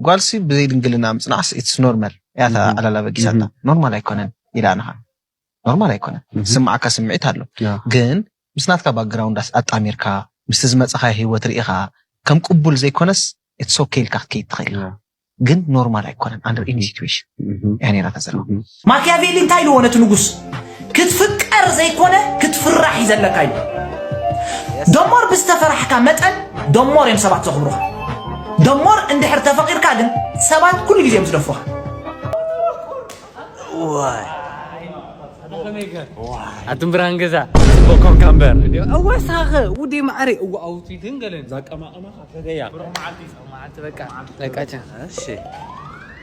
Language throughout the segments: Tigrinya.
ጓልሲ ብዘይ ድንግልና ምጽናዕስ ኢትስ ኖርመል እያ እታ ዕላል ኣበጊሳታ ኖርማል ኣይኮነን ኢላ ንኻ ኖርማል ኣይኮነን ዝስምዓካ ስምዒት ኣሎ ግን ምስ ናትካ ባክግራውንድ ኣጣሚርካ ምስቲ ዝመጻኻዮ ሂወት ርኢኻ ከም ቅቡል ዘይኮነስ ኢትስ ኦኬ ኢልካ ክትከይድ ትኽእል ኢኻ ግን ኖርማል ኣይኮነን ኣንደር ኤኒ ሲትዌሽን እያ ነይራ እታ ጸልዋ። ማክያቬሊ እንታይ ኢልዎ ነቲ ንጉስ ክትፍቀር ዘይኮነ ክትፍራሕ እዩ ዘለካ ኢልዎ ደሞር ብዝተፈራሕካ መጠን ደሞር እዮም ሰባት ዘኽብሩኻ ደሞር እንድሕር ተፈቂርካ ግን ሰባት ኩሉ ግዜ እዮም ዝደፍሩኻ ኣቱም ብርሃን ገዛ ጽቡቅ ኮንካ እምበር ወሳኸ ውዴ ማዕረ እዋ ኣውቲ ግን ገለን ዛቀማቀማኻ ፈገያ መዓልቲ በቃ በቃ እሺ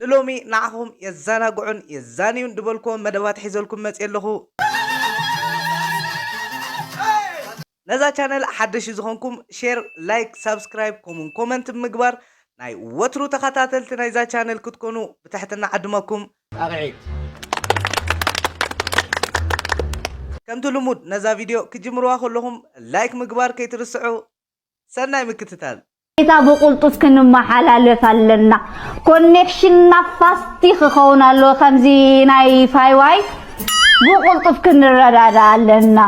ንሎሚ ንዓኹም የዛናግዑን የዛንዩን ድበልክዎም መደባት ሒዘልኩም መጽየ ኣለኹ። ነዛ ቻነል ሓደሽቲ ዝኾንኩም ሼር፣ ላይክ፣ ሳብስክራይብ ከምኡውን ኮመንት ብምግባር ናይ ወትሩ ተኸታተልቲ ናይዛ ቻነል ክትኮኑ ብትሕትና እዓድመኩም። ከምቲ ልሙድ ነዛ ቪድዮ ክጅምርዋ ከለኹም ላይክ ምግባር ከይትርስዑ። ሰናይ ምክትታል። ዳታ ብቁልጡፍ ክንማሓላልፍ ኣለና ኮኔክሽንና ፋስቲ ክከውን ኣለዎ ከምዚ ናይ ፋይዋይ ብቁልጡፍ ክንረዳዳ ኣለና።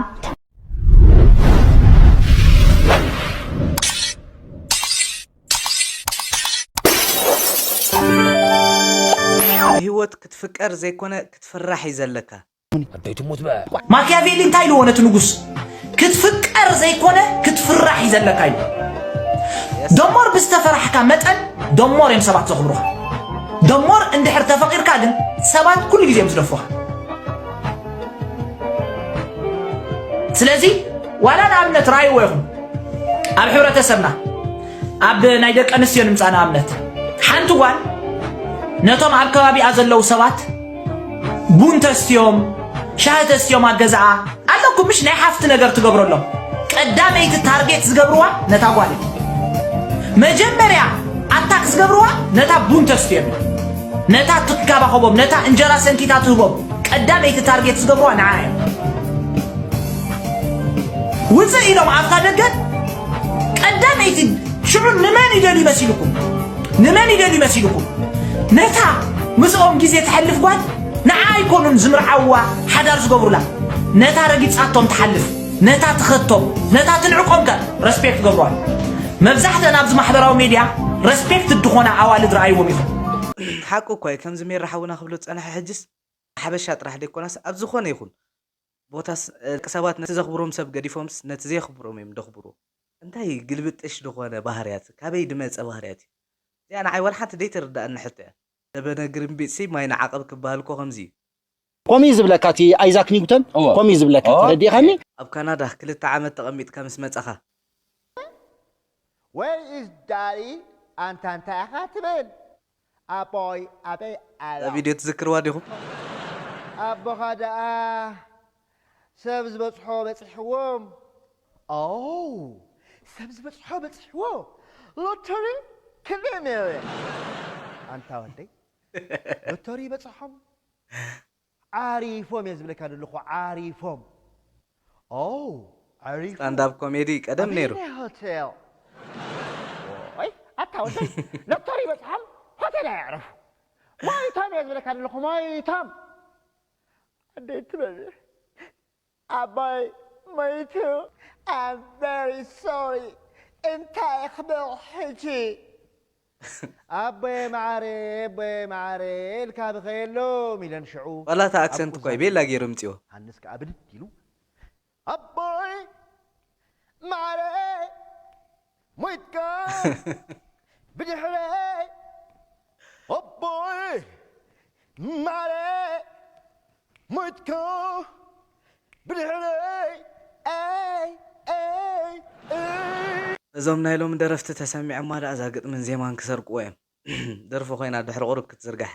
ብሂወት ክትፍቀር ዘይኮነ ክትፍራሕ እዩ ዘለካ። ኣደይ ትሙት በ ማኪያቬሊ እንታይ ኢልዎ ነቲ ንጉስ ክትፍቀር ዘይኮነ ክትፍራሕ እዩ ዘለካ እዩ ደሞር ብዝተፈራሕካ መጠን ደሞር እዮም ሰባት ዘኽብሩኻ ደሞር እንድሕር ተፈቂርካ ግን ሰባት ኩሉ ግዜ እዮም ዝደፍሩኻ ስለዚ ዋላ ንኣብነት ራእይዎ ይኹን ኣብ ሕብረተሰብና ኣብ ናይ ደቂ ኣንስትዮ ንምፃእ ንኣብነት ሓንቲ ጓል ነቶም ኣብ ከባቢኣ ዘለዉ ሰባት ቡን ተስትዮም ሻሂ ተስትዮም ኣብ ገዛኣ ኣለኩም ምሽ ናይ ሓፍቲ ነገር ትገብረሎም ቀዳመይቲ ታርጌት ዝገብርዋ ነታ ጓል እዩ መጀመርያ ኣታክ ዝገብርዋ ነታ ቡን ተስትዮም ነታ ትንከባኸቦም ነታ እንጀራ ሰንኪታ ትህቦም ቀዳመይቲ ታርጌት ዝገብርዋ ንዓ እዮም ውፅእ ኢሎም ኣብታ ደገ ቀዳመይቲ ሽዑ ንመን ይደልዩ መሲልኩም ንመን ይደልዩ መሲልኩም ነታ ምስኦም ግዜ ትሐልፍ ጓል ንዓ ኣይኮኑን ዝምርዓዋ ሓዳር ዝገብሩላ ነታ ረጊጻቶም ትሓልፍ ነታ ትኸቶም ነታ ትንዕቆም ከ ረስፔክት ገብረዋል መብዛሕተን ኣብዚ ማሕበራዊ ሚድያ ረስፔክት ድኾና ኣዋልድ ረኣይዎም ኢኹም ሓቁ እኳ እዩ ከምዚ ሜራ ሓውና ክብሎ ዝጸንሐ ሕጅስ ሓበሻ ጥራሕ ደይኮነስ ኣብ ዝኾነ ይኹን ቦታስ ደቂ ሰባት ነቲ ዘኽብሮም ሰብ ገዲፎምስ ነቲ ዘየኽብሮም እዮም ደኽብሩ። እንታይ ግልብጥሽ ድኾነ ባህርያት ካበይ ድመጸ ባህርያት እዩ እዚኣ ንዓይ ዋላ ሓንቲ ደይትርድኣኒ ሕቶ እያ ደበነ ግርምቢጥሲ ማይ ንዓቐብ ክብሃል እኮ ከምዚ እዩ። ከምኡ እዩ ዝብለካ እቲ ኣይዛክ ኒውቶን ከምኡ እዩ ዝብለካ ተረዲእኻኒ። ኣብ ካናዳ ክልተ ዓመት ተቐሚጥካ ምስ መጻኻ። Where is Daddy ኣንታ እንታይ ኢኻ ትብል ኣቦይ ኣበይ ኣሎ። እዛ ቪድዮ ትዝክርዋ ዲኹም? ኣቦኻ ደኣ ሰብ ዝበጽሖ በጺሕዎም። ኦው ሰብ ዝበጽሖ በጺሕዎ ሎቶሪ ክንደይ ሚልዮን። ኣንታ ወደይ ሎቶሪ ይበጽሖም። ዓሪፎም እየ ዝብለካ ዘለኹ ዓሪፎም ኦው ዓሪፉ ስታንዳብ ኮሜዲ ቀደም ነይሩ። ኣበየናይ ሆቴል ኦይ ኣታ ወደይ ሎቶሪ በጽሖም ሆቴል ኣየዕረፉ ሞይቶም እየ ዝብለካ ዘለኹ ሞይቶም ኣደይ ትበል ኣባይ ሞይቱ ኣም ቨሪ ሶሪ እንታይ ክብል ሕጂ። ኣቦየ መዓረየ ኣቦየ መዓረየ ኢልካ ብኸየሎም ኢለን ሽዑ ዋላ እታ ኣብ ኣክሰንት እኳ ዩ ቁዛኖም ቤላ ገይሩ ኣትየን። ኣምጺኦ። ዮሃንስ ከኣ ብድድ ኢሉ ኣቦይ መዓረየ ሞይትካ ብድሕረይ ኣቦይ ማረይ ሞይትካ ብድሕረይ ኣይ ኣይ ኣይ እዞም ናይ ሎሚ ደረፍቲ ተሰሚዖማ ደኣ እዛ ግጥምን ዜማን ክሰርቅዎ እዮም ደርፊ ኮይና ድሕሪ ቁሩብ ክትዝርጋሕ።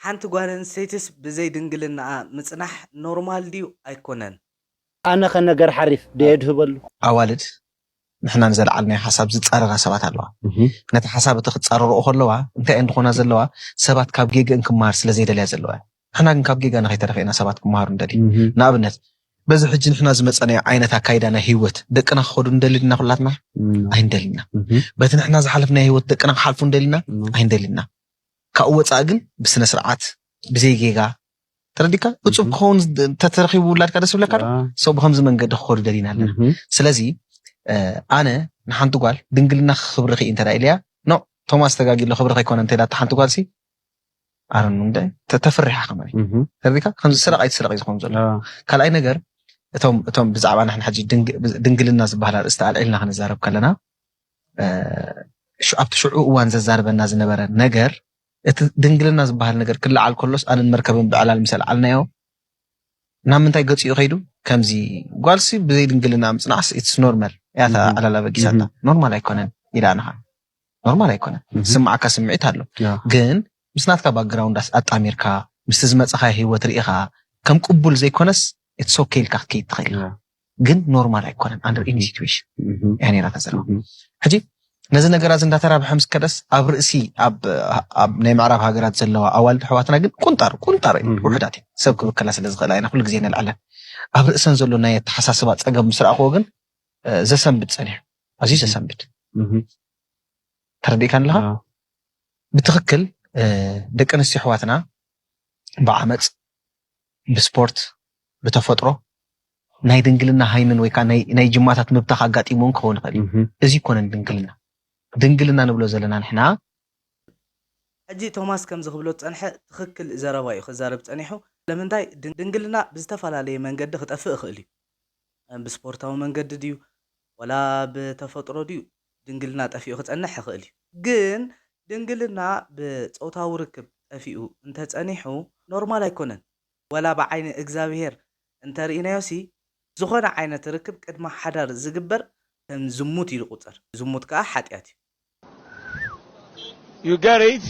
ሓንቲ ጓል ኣንስተይቲስ ብዘይ ድንግልናኣ ምጽናሕ ኖርማል ድዩ ኣይኮነን? ኣነ ከ ነገር ሓሪፍ ዶ የድህበሉ? ኣዋልድ ንሕና ንዘልዓልናዮ ሓሳብ ዝጻረራ ሰባት ኣለዋ። ነቲ ሓሳብ እቲ ክጻረርኦ ከለዋ እንታይ እየን ድኾና ዘለዋ? ሰባት ካብ ጌግእን ክመሃር ስለ ዘይደልያ ዘለዋ እየን። ንሕና ግን ካብ ጌጋና ከይተረፈ ኢና ሰባት ክመሃሩ ንደሊ። ንኣብነት በዚ ሕጂ ንሕና ዝመጸናዮ ዓይነት ኣካይዳ ናይ ህይወት ደቅና ክኸዱ ንደሊ ድና ኩላትና? ኣይንደልን ኢና። በቲ ንሕና ዝሓለፍናዮ ህይወት ደቅና ክሓልፉ ንደሊ ኢና? ኣይንደልን ኢና። ካብኡ ወጻኢ ግን ብስነ ስርዓት ብዘይ ጌጋ ተረዲካ እፁብ ክኸውን ተተረኪቡ ውላድካ ደስ ብለካ ዶ ሰው ብከምዚ መንገዲ ክኸዱ ደሊና ኣለና ስለዚ ኣነ ንሓንቲ ጓል ድንግልና ክብሪ ክኢ እንተ ኢለያ ኖ ቶማስ ተጋጊሎ ክብሪ ከይኮነ እንተ ኢላታ ሓንቲ ጓል ሲ ኣረኑ እንደ ተፍሪሓ ከመ ተረዲካ ከምዚ ስረቅ ኣይትስረቅ እዩ ዝኸውን ዘሎ ካልኣይ ነገር እቶም እቶም ብዛዕባ ንሕና ሕጂ ድንግልና ዝበሃል ኣርእስቲ ኣልዒልና ክንዛረብ ከለና ኣብቲ ሽዑ እዋን ዘዛርበና ዝነበረ ነገር እቲ ድንግልና ዝበሃል ነገር ክለዓል ከሎስ ኣነን መርከብን ብዕላል ምስ ኣልዓልናዮ ናብ ምንታይ ገጽ'ዩ ከይዱ? ከምዚ ጓልሲ ብዘይ ድንግልና ምጽናዕስ ኢትስ ኖርማል እያ እታ ዕላል ኣበጊሳታ። ኖርማል ኣይኮነን ኢላ ንኻ ኖርማል ኣይኮነን ዝስምዓካ ስምዒት ኣሎ ግን ምስ ናትካ ባክግራውንድ ኣጣሚርካ ምስቲ ዝመጻኻዮ ሂወት ርኢኻ ከም ቅቡል ዘይኮነስ ኢትስ ኦኬ ኢልካ ክትከይድ ትኽእል ኢኻ። ግን ኖርማል ኣይኮነን ኣንደር ኢኒ ሲትዌሽን እያ ነይራ ተዘላ ሕጂ ነዚ ነገራት እንዳተራብሐ ምስ ከደስ ኣብ ርእሲ ኣብ ናይ ምዕራብ ሃገራት ዘለዋ ኣዋልድ ኣሕዋትና ግን ቁንጣር ቁንጣር ውሕዳት እየን ሰብ ክብከላ ስለ ዝኽእላ ኢና ኩሉ ግዜ ነልዓለን ኣብ ርእሰን ዘሎ ናይ ኣተሓሳስባ ፀገም ምስ ረኣኽዎ ግን ዘሰንብድ ፀኒሑ ኣዝዩ ዘሰንብድ ተረዲእካ ኣለኻ ብትኽክል ደቂ ኣንስትዮ ኣሕዋትና ብዓመፅ ብስፖርት፣ ብተፈጥሮ፣ ናይ ድንግልና ሃይምን ወይ ከኣ ናይ ጅማታት ምብታኽ ኣጋጢሙ እውን ክኸውን ይኽእል እዩ። እዚ ኣይኮነን ድንግልና። ድንግልና ንብሎ ዘለና ንሕና። ሕጂ ቶማስ ከምዚ ክብሎ ዝጸንሐ ትኽክል ዘረባ እዩ ክዛረብ ጸኒሑ። ስለምንታይ ድንግልና ብዝተፈላለየ መንገዲ ክጠፍእ ይኽእል እዩ። ብስፖርታዊ መንገዲ ድዩ ዋላ ብተፈጥሮ ድዩ ድንግልና ጠፊኡ ክጸንሕ ይኽእል እዩ። ግን ድንግልና ብጾታዊ ርክብ ጠፊኡ እንተ ጸኒሑ ኖርማል ኣይኮነን። ወላ ብዓይኒ እግዝኣብሄር እንተ ርኢናዮሲ ዝኾነ ዓይነት ርክብ ቅድሚ ሓዳር ዝግበር ከም ዝሙት እዩ ዝቑጸር። ዝሙት ከኣ ሓጥያት እዩ። You get it?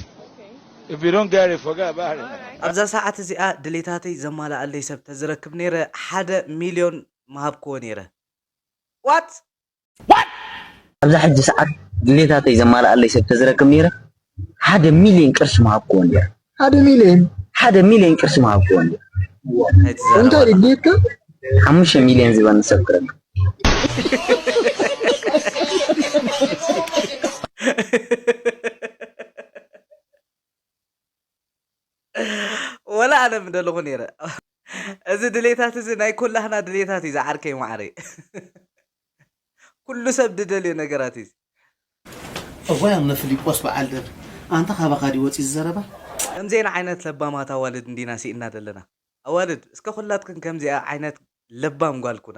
If you don't get it, forget about it. ኣብዛ ሰዓት እዚኣ ድሌታተይ ዘማልኣለይ ሰብ ተዝረክብ ኔረ ሓደ ሚልዮን ምሃብክዎ ኔረ። What? ኣብዛ ሕጂ ሰዓት ድሌታተይ ዘማልኣለይ ሰብ ተዝረክብ ነይረ ሓደ ሚልዮን ቅርሺ ምሃብክዎ ነይረ። ሓደ ሚልዮን ሓደ ሚልዮን ቅርሺ ምሃብክዎ ነይረ። እንታይ ድሌትካ? ሓሙሽተ ሚልዮን ዝበኒ ሰብ ክረክብ ወላ ኣነ ምደለኹ ነይረ እዚ ድሌታት እዚ ናይ ኩላህና ድሌታት እዩ ዝዓርከይ ማዓረይ ኩሉ ሰብ ድደልዮ ነገራት እዩ እዋይ ኣምነ ፍሊጶስ በዓል ደብ ኣንታ ካባኻ ድዩ ወጺኡ ዝዘረባ። ከምዚኤን ዓይነት ለባማት ኣዋልድ እንዲና ሲኢንና ደለና ኣዋልድ እስከ ኩላትክን ከምዚኣ ዓይነት ለባም ጓል ኩና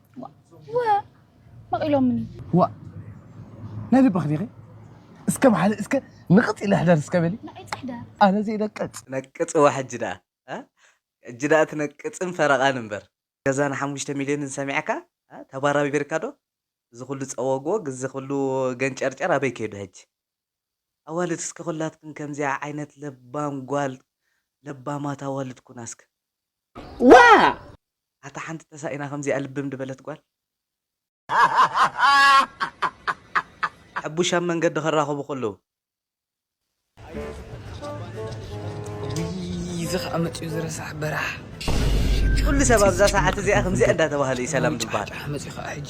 መቒሎምኒ ዋ ናይ ልብኺ ዲኺ እስከ በሓደ እስከ ንቕፅ ኢለ ሕደር እስከ በሊ ኣነ ዘይነቅፅ ነቅፅዋ ሕጂ ደኣ ሕጂ ደኣ ትነቅፅን ፈረቓን እምበር። ገዛ ን ሓሙሽተ ሚልዮንን ሰሚዕካ ተባራቢርካ ዶ እዚ ኩሉ ጸወግወግ እዚ ኩሉ ገንጨርጨር ኣበይ ከይዱ ሕጂ ኣዋልድ እስከ ኩላትክን ከምዚኣ ዓይነት ለባም ጓል ለባማት ኣዋልድ ኩና እስከ ዋእ! ኣታ ሓንቲ ተሳኢና ከምዚኣ ልብም ድበለት ጓል። ሐቡሽ ኣብ መንገዲ ክራከቡ ከለዉ። እውይ እዚ ከኣ መጺኡ እዚ ረሳሕ በራሕ። ኩሉ ሰብ ኣብዛ ሰዓት እዚኣ ከምዚኣ እንዳተባህለ እዩ ሰላም ዝባሃል። ጫሕ መጺኡ ከኣ ሕጂ።